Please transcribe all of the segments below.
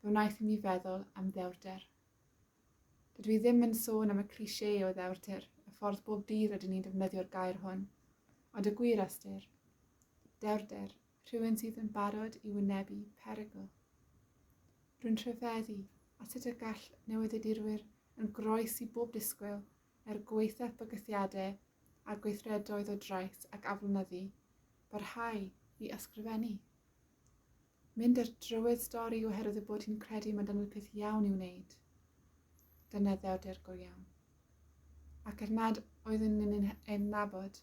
fe wnaeth i mi feddwl am ddewrder. Dydw i ddim yn sôn am y cliché o ddewrder, y ffordd bob dydd rydyn ni'n defnyddio'r gair hwn, ond y gwir ystyr. Dewrder, rhywun sydd yn barod i wynebu perygl. Rwy'n rhyfeddu at sut y gall newyddiadurwyr yn groes i bob disgwyl er gwaethaf bygythiadau a gweithredoedd o drais ac aflonyddu, barhau i ysgrifennu. Mynd ar drywydd stori oherwydd y bod hi'n credu mae'n dangos peth iawn i'w wneud. Dyna ddewrder go iawn. Ac er nad oeddwn yn yn ein nabod,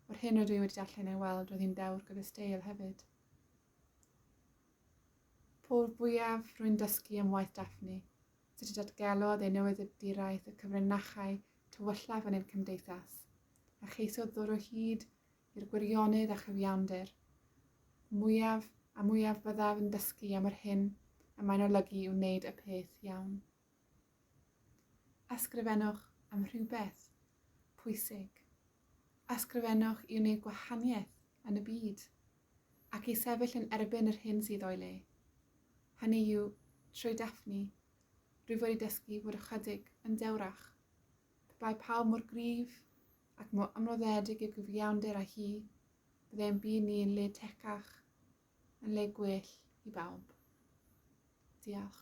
o'r hyn rydw i wedi darllen ei weld, roedd hi'n dewr gyda steil hefyd. Pob fwyaf rwy'n dysgu am waith Daphne, sut y datgelodd ei newyddiaduraeth y cyfrinachau tywyllaf yn ein cymdeithas, a cheisiodd ddod o hyd i'r gwirionedd a chyfiawnder. Mwyaf a mwyaf byddaf yn dysgu am yr hyn y mae'n olygu i wneud y peth iawn. Ysgrifennwch am rhywbeth pwysig. Ysgrifennwch i wneud gwahaniaeth yn y byd ac i sefyll yn erbyn yr hyn sydd o'i le. Hynny yw, trwy Daphne, rwyf wedi dysgu fod ychydig yn dewrach. Pe pawb mor gryf ac mor amroddedig yw gyfiawnder â hi, bydde ein byd ni yn le tecach, yn le gwell i bawb. Diolch.